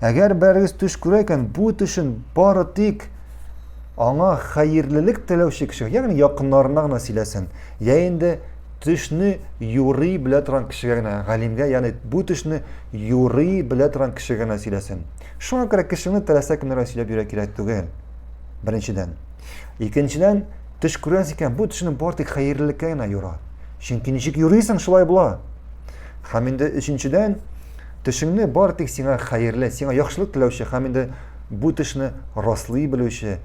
Әгәр берегез төш күрә икән, бу төшен бары тик аңа хәерлелек теләүче кеше, ягъни якыннарына гына сөйләсен. Я инде төшне юрый белә торган кешегә генә, галимгә, ягъни бу төшне юрый белә торган кешегә генә сөйләсен. Шуңа күрә кешене теләсә кемнәргә сөйләп йөрә кирәк түгел. Беренчедән. Икенчедән, төш күрәс икән, бу төшне бары тик хәерлелеккә генә юра. Чөнки ничек юрыйсың, шулай була. Һәм инде өченчедән, Төшеңне бары тик сиңа хәерле, сиңа яхшылык теләүче һәм инде бу төшне раслый белүче,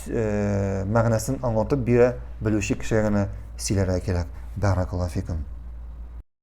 мәгънәсен аңлатып бирә белүче кешегә генә сөйләргә кирәк. Бәракаллаһу фикум.